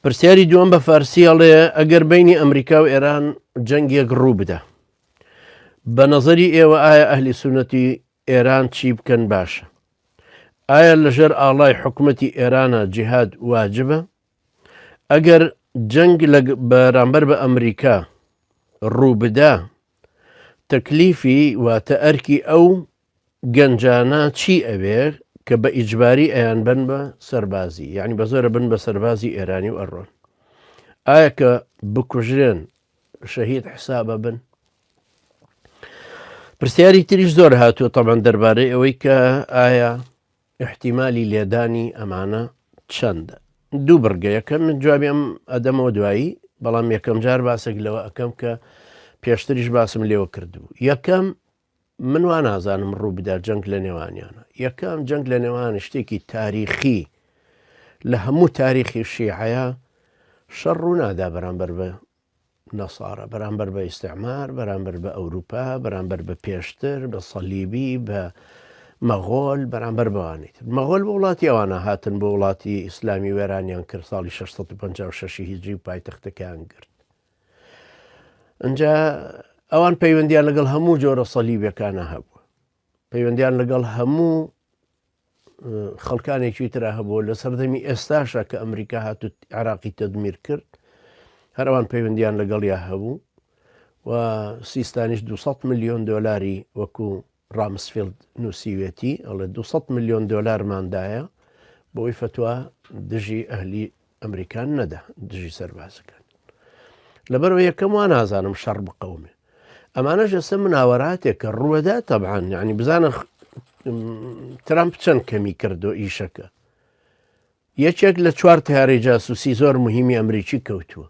پرسیاری دووەم بە فارسی هەڵێ ئەگەر بینی ئەمریکا و ئێران جەنگێک ڕوو بدە بە نەزەری ئێوە ئایا ئەهلی سونەتی ئێران چی بکەن باشە ئایا لەژێر ئاڵای حکوومەتی ئێرانە جیهاد واجبە ئەگەر جەنگ لە بەرامبەر بە ئەمریکا ڕوو بدە تەکلیفی واتە ئەرکی ئەو گەنجانە چی ئەوێ کە بە ئیجباری ئەیان بن بە سەربازی یعنی بە زۆرە بن بە سەربازی ئێرانی و ئەڕۆن ئایا کە بکوژرێن شەهید حسابە بن پرسیاری تریش زۆر هاتووە تەمان دەربارەی ئەوەی کە ئایا احتیممالی لێدانی ئەمانە چەندە دوو بڕگەیەکە من جوابی ئەم ئەدەمەوە دوایی بەڵام یەکەم جار باسێک لەوە ئەەکەم کە پێشتریش باسم لێوە کردبوو یەکەم من وا نازانم ڕوو بدا جەنگ لە نێوانیانە یەکەم جەنگ لە نێوان شتێکی تاریخی لە هەموو تاریخی شیعەیە شەڕ ڕوونادا بەرامبەر بە نەسارە بەرامبەر بە ئیسعمار بەرامبەر بە ئەوروپا بەرامبەر بە پێشتر بە سەلیبی بە مەغۆل بەرامبەر بەوانیت مەغۆل بە وڵاتی ئەوانە هاتن بۆ وڵاتی ئیسلامی وێرانیان کرد ساڵی 1656 هیجری پایتەختەکان گرت ئەجا ئەوان پەیوەندیان لەگەڵ هەموو جۆرە سەلیبەکانە هەبوو پەیوەندیان لەگەڵ هەموو خەڵکانێکی تررا هەبوو لە سەردەمی ئێستاشە کە ئەمریکا هاتو عراقی تەدمیر کرد هەروان پەیوەندیان لەگەڵیا هەبوو و سیستانیش 200 میلیۆن دلاری وەکو رامسفیلد نووسیوێتی، ئەڵێ دوو سەد ملیۆن دۆلارمان دایە بۆی فەتوا دژی ئەهلی ئەمریکان نەدا دژی سەربازەکان لەبەرەوە یەکەم وا نازانم شەڕ بقەومێ ئەمانەش ئێستا مناوەراتێک کە ڕوەدا تەبان یعنی بزانە ترامپ چەند کەمی کردو ئیشەکە یەکێک لە چوار تیارەی جاسوسی زۆر مهمی ئەمریکی کەوتووە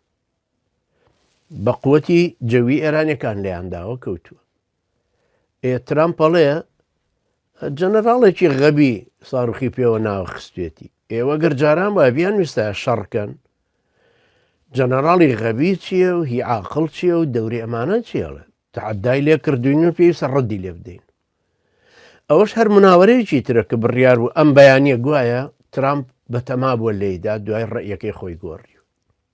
بە قوتی جەوی ئێرانەکان لەیانداوە کەوتووە ئێ ترامپ ئەڵێ جەنەراڵێکی غەبی ساڕوخی پێوە ناوە خستێتی ئێوە گەر جاران وای بیان ویستە شەڕکەن جەنەراڵی غەبی چییە و هی عاقڵ چییە و دەوری ئەمانە چێڵێ تعدای لێ کردوین و پێی سەڕدی لێ بدەین ئەوەش هەر مناوەرەیەکی ترە کە بڕیار و ئەم بەیانە گوایە ترامپ بەتەما بووە لێیدا دوای ڕێیەکەی خۆی گۆڕی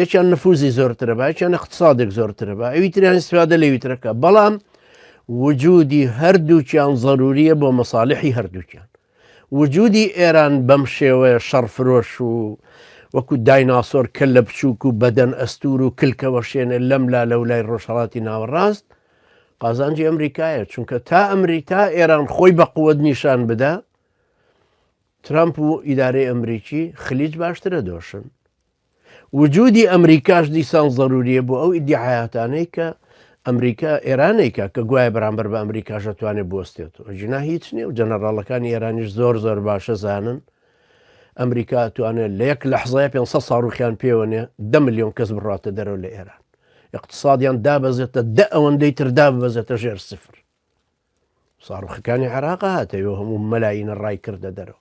یەکیان نفوزی زۆرترە با یەکیان اقتصادێک زۆرترە بە ئەوی تریان استفادە لەوی ترەکە بەڵام وجودی هەردووکیان ضروریە بۆ مەساالحی هەردووکیان وجودی ئێران بەم شێوەیە شەڕفرۆش و وەکو دایناسۆر کە لە بچووک و بەدەن ئەستور و کلکەوە شێنە لەم لا لە ولای ڕۆژهڵاتی ناوەڕاست قازانجی ئەمریکایە چونکە تا ئەمریکا ئێران خۆی بە قوت نیشان بدا ترەمپ و ئیدارەی ئەمریکی خلیج باشترە دۆشن. وجودی ئەمریکاش دیسان زەروریە بۆ ئەو ئیدیعایاتانەی کە ئەمریکا ئێرانێکە کە گوایە بەرامبەر بە ئەمریکاش دەتوانێت بوەستێتەوە جینا هیچ نیە و جەنەراڵەکانی ئێرانیش زۆر زۆر باشە زانن ئەمریکا توانێت لە یەک لەحزای 500 ساڕوخیان پێوەنێ دە میلیۆن کەس بڕاتە دەرەوە لە ئێران اقتصادیان دابەزێتە دە ئەوەندەی تر داببەزێتە ژێر سفر ساڕوخەکانی عراق هاتەوە هەموو مەلاینە ڕای کردە دەرەوە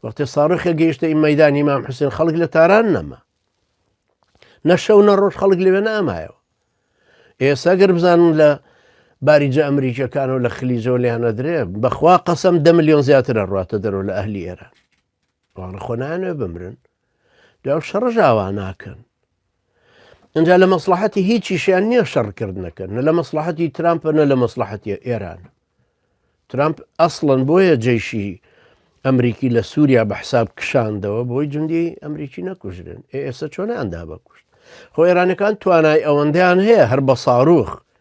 وەختێ ساڕخە گەیشتە ئی مەدانی مام حوسێن خەڵک لە تاران نەما نەشەو نە ڕۆژ خەڵک لەوێ نامایەوە ئێستا گەر بزانن لە باریجە ئەمریکیەکانەوە لە خلیجەوە لیانەدرێ بەخوا قەسم دە میلیۆن زیاترە ڕاتە دەرەوە لە ئەهلی ئێران وانە خۆ نانوێ بمرن داو شەڕژ ئاوا ناکەن ئەجا لە مەسلحەتی هیچیشیان نییە شەڕکردنەکەن نە لە مەسلحەتی ترامپە نە لە مەسلحەتی ئێران ترامپ ئەسڵەن بۆیە جێشی ئەمریکی لە سووریا بە حساب کشاندەوە بۆی جندی ئەمریکی نەکوژرن ئێستا چۆنیاندا بەکوشت خۆ ئێرانەکان توانای ئەوەندەیان هەیە هەر بە ساروخ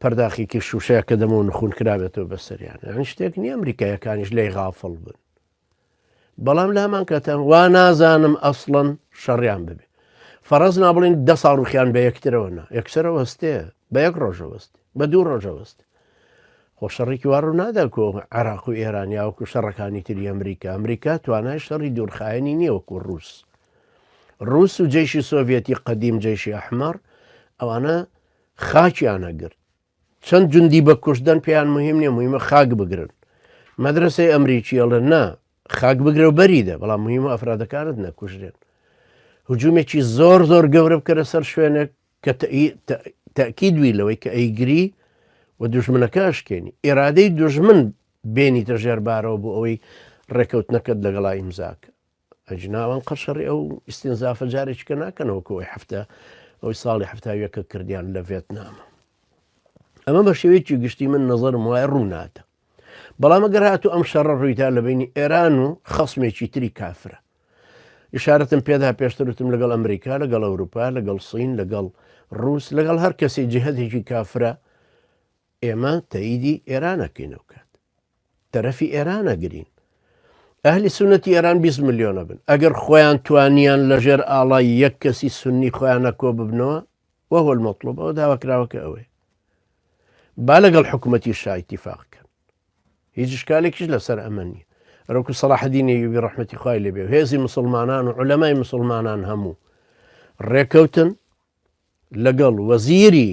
پەرداخیکی شوشەیە کە دەمەوە نخون کرابێتەوە بەسەریان ئەن شتێک نیە ئەمریکایەکانیش لی غافڵ بن بەڵام لە هەمان کاتان وا نازانم ئەسڵەن شەڕیان ببێ فەرەز نابڵین دە ساڵ ڕوخیان بە یەکترەوەنا یەکسەرە وەستێ بە یەک ڕۆژەوەست بە دوو ڕۆژەوەست خۆ شەڕێکی وارو نادا کۆ عراق و ئێرانیا وکو شەڕەکانی تری ئەمریکا ئەمریکا توانای شەڕی دوورخایەنی نییەوەکو ڕوس ڕوس و جێشی سۆڤەتی قدیم جێشی ئەحمەر ئەوانە خاکیان ئەگرت چەند جوندی بە کوشتدەن پێیان مهم نیە مهمە خاک بگرن مەدرسەی ئەمریکی ئەڵێن نا خاک بگرە و بەریدە بەڵام مهمە ئەفرادەکانت نەکوژرێن هجوومێکی زۆر زۆر گەورە بکەرە سەر شوێنێک کە تەکی دوی لەوەی کە ئەیگری و دژمنەکە شکێنی ئێرادەی دژمن بێنیتە ژێربارەوە بۆ ئەوەی ڕێکەوتنەکەت لەگەڵا ئیمزاکە ئەجنا ئەوان قەرشەڕی ئەو ئیستینزافە جارێکیکە ناکەنەوە کە وەی هەفتە ئەوی ساڵی هەفتا یەکە کردیان لە ڤێتنامە ئەمە بە شێوەیەکی گشتی من نەزەرم وایە ڕووناتە بەڵام گەر هاتو ئەم شەڕە ڕوویدا لە بینی ئێران و خەسمێکی تری کافرە ئشارەتم پێدا پێشترتم لەگەڵ ئەمریکا لەگەڵ ئەوروپا لەگەڵ سین لەگەڵ ڕوس لەگەڵ هەر کەسی جهدێکی کافرە ئێمە تەئیدی ئێران ئەکەین ئەو کات تەرەفی ئێران ئەگرین ئەهلی سونەتی ئێران 20 ملیۆنە بن ئەگەر خۆیان توانیان لەژێر ئاڵای یەک کەسی سنی خۆیانە کۆ ببنەوە وەهۆل مەطلوب ئەو داواکراوەکە ئەوەیە با لەگەڵ حکوومەتی شایتیفاقکەن هیچ شکالێکیش لەسەر ئەمە نیە ڕۆکو سەڵاحدینی یوبی ڕحمەتی خی لەبێ هێزی مسلمانان و علەمای مسلمانان هەموو ڕێکەوتن لەگەڵ وەزیری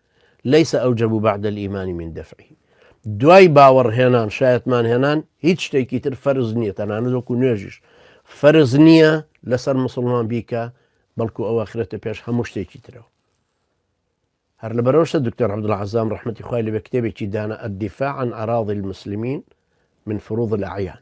لیس اوجب بعد الایمان من دفعه دوای باوەڕ هێنان شایەتمان هێنان هیچ شتێکی تر فەرز نییە تەنانەت وەکو نوێژیش فەرز نییە لەسەر مسلمان بیکە بەڵکو ئەوە خرێتە پێش هەموو شتێکی ترەوە هەر لە بەرەوشە دکتۆر عبدڵ عزام ڕحمەتی خخوای لە بە کتێبێکی دانا ئەدیفاعن عراضی المسلمین من فروض العیان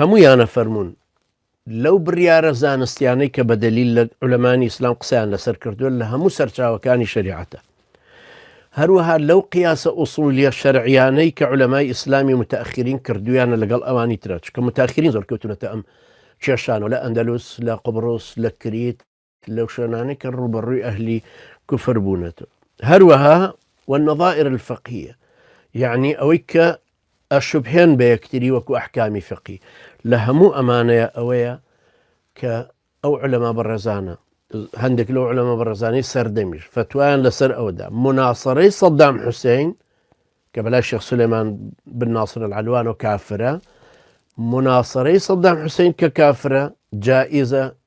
هەموویان ئەفەرموون لەو بڕیارە زانستیانەی کە بە دەلیل لە علەمانی ئیسلام قسەیان لەسەر کردووە لە هەموو سەرچاوەکانی شریعەتە هەروەها لەو قیاسە ئووسولیە شەرعیانەی کە علەمای ئیسلامی متاخرین کردویانە لەگەڵ ئەوانی ترە چکە متاخرین زۆر کەوتونەتە ئەم کێشانەوە لە ئەندەلوس لە قبرۆس لە کریت لەو شوێنانەی کە ڕوبەڕووی ئەهلی کوفر بوونەتەوە هەروەها والنظائر الفقهیە یعنی ئەوەی کە ئەشبهێن بە یەکتری وەکو ئەحکامی فقی لە هەموو ئەمانەیە ئەوەیە کە ئەو علەما بەڕێزانە هەندێک لەو علەمە بەڕێزانەی سەردەمیش فتوایان لەسەر ئەودا مناسەڕەی سەددام حوسین کە بەلای شخص سلێمان بناسر العلوان و کافرە مناسەڕەی سەددام حوسین کە کافرە جائیزە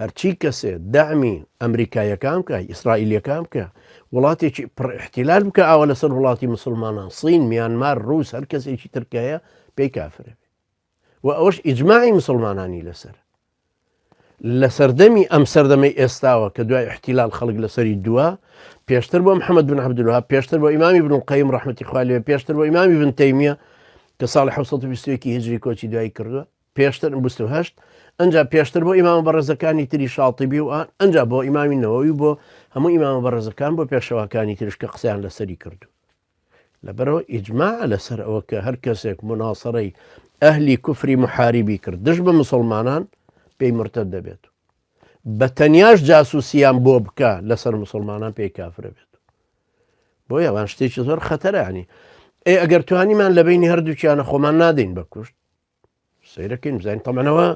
هەرچی کەسێ دەعمی ئەمریکایەکان بکە ئیسرائیلەکان بکە وڵاتێکی پڕ احتیلال بکە ئاوا لەسەر وڵاتی مسلمانان سین میانمار رووس هەر کەسێکی ترکایە پێی کافرە و ئەوش ئیجمماعی مسلمانانی لەسەر لە سەردەمی ئەم سەردەمەی ئێستاوە کە دوای احتیلال خەڵک لەسەری دووە پێشتر بۆ محەممەد بن عبدلوها پێشتر بۆ ئیمامی بن قیم ڕحمەتی خالی پێشتر بۆ ئیمامی بن تەیمیە کە ساڵی 1920 هجری کۆچی دوایی کردووە پێشتر بیست و هەشت ئەنجا پێشتر بۆ ئیمامە بەڕێزەکانی تری شاڵتیبی و ئان ئەنجا بۆ ئیمامی نەوەوی بۆ هەموو ئیمامە بەڕێزەکان بۆ پێشەواکانی ترش کە قسەیان لەسەری کردو لەبەرەوە ئیجمما لەسەر ئەوە کە هەر کەسێک مناسەڕی ئەهلی کوفری محاریبی کرد دژ بە مسلمانان پێی مرتە دەبێت بە تەنیاش جاسوسیان بۆ بکە لەسەر مسلمانان پێی کافرە بێت بۆ یاوان شتێکی زۆر خەتەرانی ئەی ئەگەر توانیمان لە بینی هەردووچیانە خۆمان نادەین بە کوشت سەیرە کەین بزانین تەمەنەوە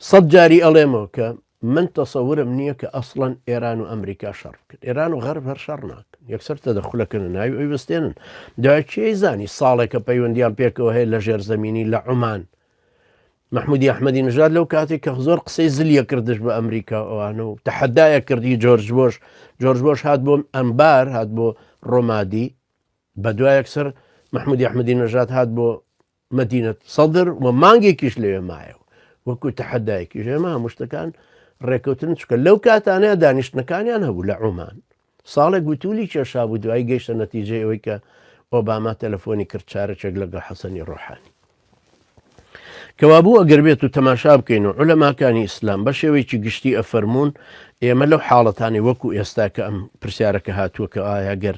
سەد جاری ئەڵێمەوە کە من تەسەورم نییە کە ئەسڵەن ئێران و ئەمریکا شەڕ بکرد ئێران و غەرب هەر شەڕ ناکەن یەکسەر تە دەخولەکەن و ناوی ئەوی بستێنن داچی زانی ساڵێکە پەیوەندیان پێکەوە هەیە لە ژێر زمینی لە عمان مححمودی ئەحمەدی نژاد لەو کاتێک کە زۆر قسەی زلیە کردش بە ئەمریکا ئەوانە و تەحەدایە کردی جۆرج بۆش جۆرج بۆش هات بۆم ئەمبار هات بۆ ڕۆمادی بە دوایەکسەر مححمودی ئەحمەدی نژاد هات بۆ مەدینە سەدر و مانگێکیش لەوێ مایەوە وەکو تەحەدایەکی ژێمە هەموو شتەکان ڕێکەوتن چکە لەو کاتانەیە دانیشتنەکانیان هەبوو لە عمان ساڵێک گوتولی کێشا بوو دوای گەیشتە نەتیجەی ئەوەی کە ئۆباما تەلەفۆنی کرد چارەچێک لەگەڵ حەسەنی ڕۆحانی کەوابوو ئەگەر بێت و تەماشا بکەین و عولەماکانی ئیسلام بە شێوەیەکی گشتی ئەفەرمونون ئێمە لەو حاڵەتانی وەکو ئێستا کە ئەم پرسیارەکە هاتووە کە ئایا گەر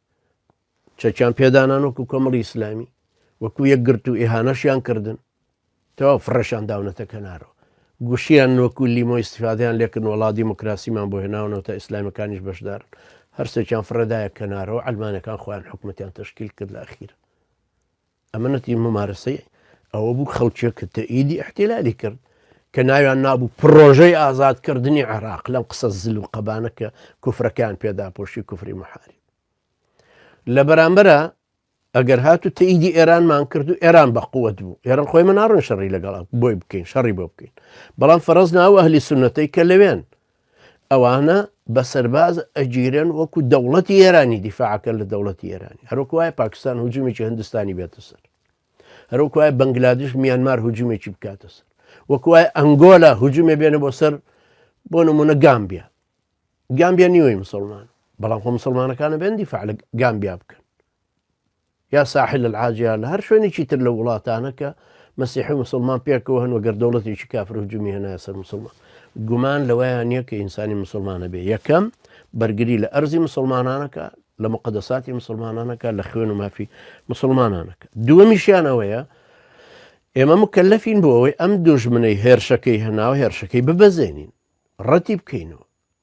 چەکیان پێدانان وەکو کۆمەڵی ئیسلامی وەکو یەک گرت و ئێهانەشیان کردن تەوا فڕەشان داونەتە کەنارەوە گوشیان نۆکو لیمۆ استفادیان لێکن وڵا دیموکراسیمان بۆ هێناونەوە تا ئیسلامەکانیش بەشدار هەرسێکیان فڕەدایە کەنارەوە ئەلمانەکان خۆیان حکوومەتیان تشکیل کرد لە ئەخیر ئەمەنەتی مومارەسەی ئەوە بوو خەڵکێک کە تەئیدی ئەحتیلالی کرد کە ناویان نابوو پڕۆژەی ئازادکردنی عێراق لەم قسە زل و قەبانە کە کوفرەکان پێداپۆشی کوفری محاری لە بەرامبەرە ئەگەر هات و تەیدی ئێرانمان کرد و ئێران بە قووەت بوو ئێران خۆی مناڕن شەڕی لەگەڵ بۆی بکەین شەڕی بۆ بکەین بەڵام فەرز ناوە هەلی سونەتەی کە لەوێن ئەوانە بە سەرباز ئەگیرن وەکو دەوڵەتی ئێرانی دیفاعکە لە دەوڵەتی ئێرانی هەروکو وایە پاکستان هجوومێکی هندستانی بێتە سەر هەروکو وایە بەنگلادش میانمار هجوومێکی بکاتە سەر وەکو وایە ئەنگۆلا هجوومێ بێنە بۆ سەر بۆ نمونە گامبیا گامبیا نیوەی مسلمان بەڵام خۆ مسلمانەکانە بێن دیفاع لە گامبیا بکەن یا ساحل العاجیان لە هەر شوێنێکی تر لە وڵاتانە کە مەسیحی مسلمان پێکەوە هەن وەگەر دەوڵەتێکی کافر و جمی هێنایە سەر مسلمان گومان لەوەیان نییە کە ئینسانی مسلمانە بێ یەکەم بەرگری لە ئەرزی مسلمانانەکە لە مقدەساتی مسلمانانەکە لە خوێن و مافی مسلمانانەکە دووەمیشیان ئەوەیە ئێمە مکەلەفین بۆ ئەوەی ئەم دوژمنەی هێرشەکەی هەناوە هێرشەکەی ببەزێنین ڕەتی بکەینەوە